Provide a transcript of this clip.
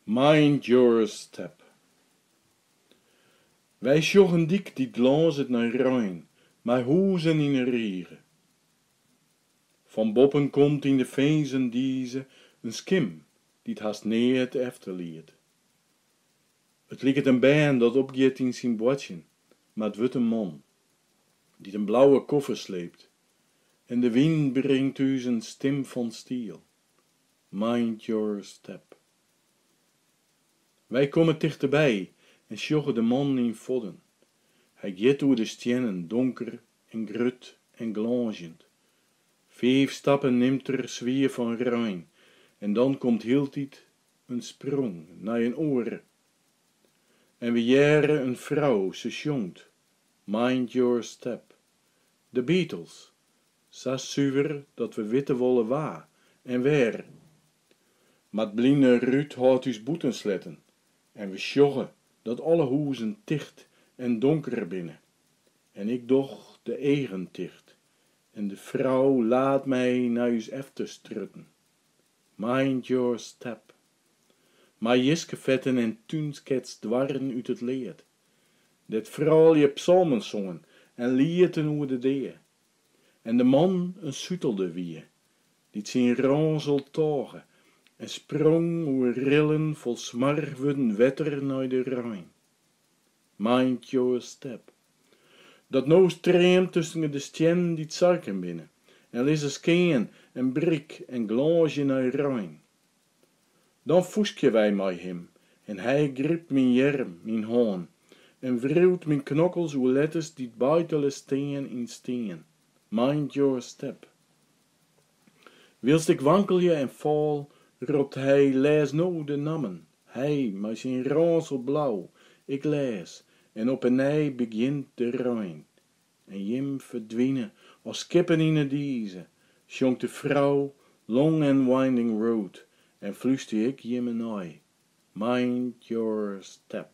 Mind your step. Wy sjogge in dyk dy't glânzet nei rein, mei hûzen yn 'e rige. Fan boppen komt yn de finzen dize in skim dy't hast neat efterliet. It liket in bern dat opgiet yn syn boartsjen, mar 't wurdt in man, dy't in blauwe koffer sleept En de wyn bringt ús in stim fan stiel, Mind your step. Wy komme tichteby en sjogge de man yn fodden. Hy giet oer de stiennen, donker en grut en glânzjend. Fiif stappen nimt er swier fan rein en dan komt hieltyd in sprong nei in oare. En we hearre in frou, se sjongt, Mind your step, De Beatles, sa suver dat we witte wolle wa en wêr. Mar 't bline rút hâldt ús bûten sletten en we sjogge dat alle hûzen ticht en donker binne. En ik doch de eagen ticht en de frou laat my nei ús efterstrjitten. Mind your step. Mei jiskefetten en túnskets doarren út it lead. dêr't froulju psalmen songen en lieten oer de dea, en de man in sutelder wie, dy't syn rânsel tôge en sprong oer rillen fol smoarch wurden wetter nei de rein. Mind your step. Dat no streamt tusken de stiennen dy't sarken binne en lizze skean en brik en glânsje nei rein. Dan fûskje wy mei him, en hy grypt myn earm, myn hân, en wriuwt myn knokkels oer letters dy't beitele stean yn stien, Mind your step. Wylst ik wankelje en fal, ropt hy, Lês no de nammen! Hy, mei syn rânsel blau, ik lês, en op 'e nij begjint de rein. En jim ferdwine as skippen yn 'e dize, sjongt de frou Long and Winding Road en flústerje ik jimme nei, Mind your step.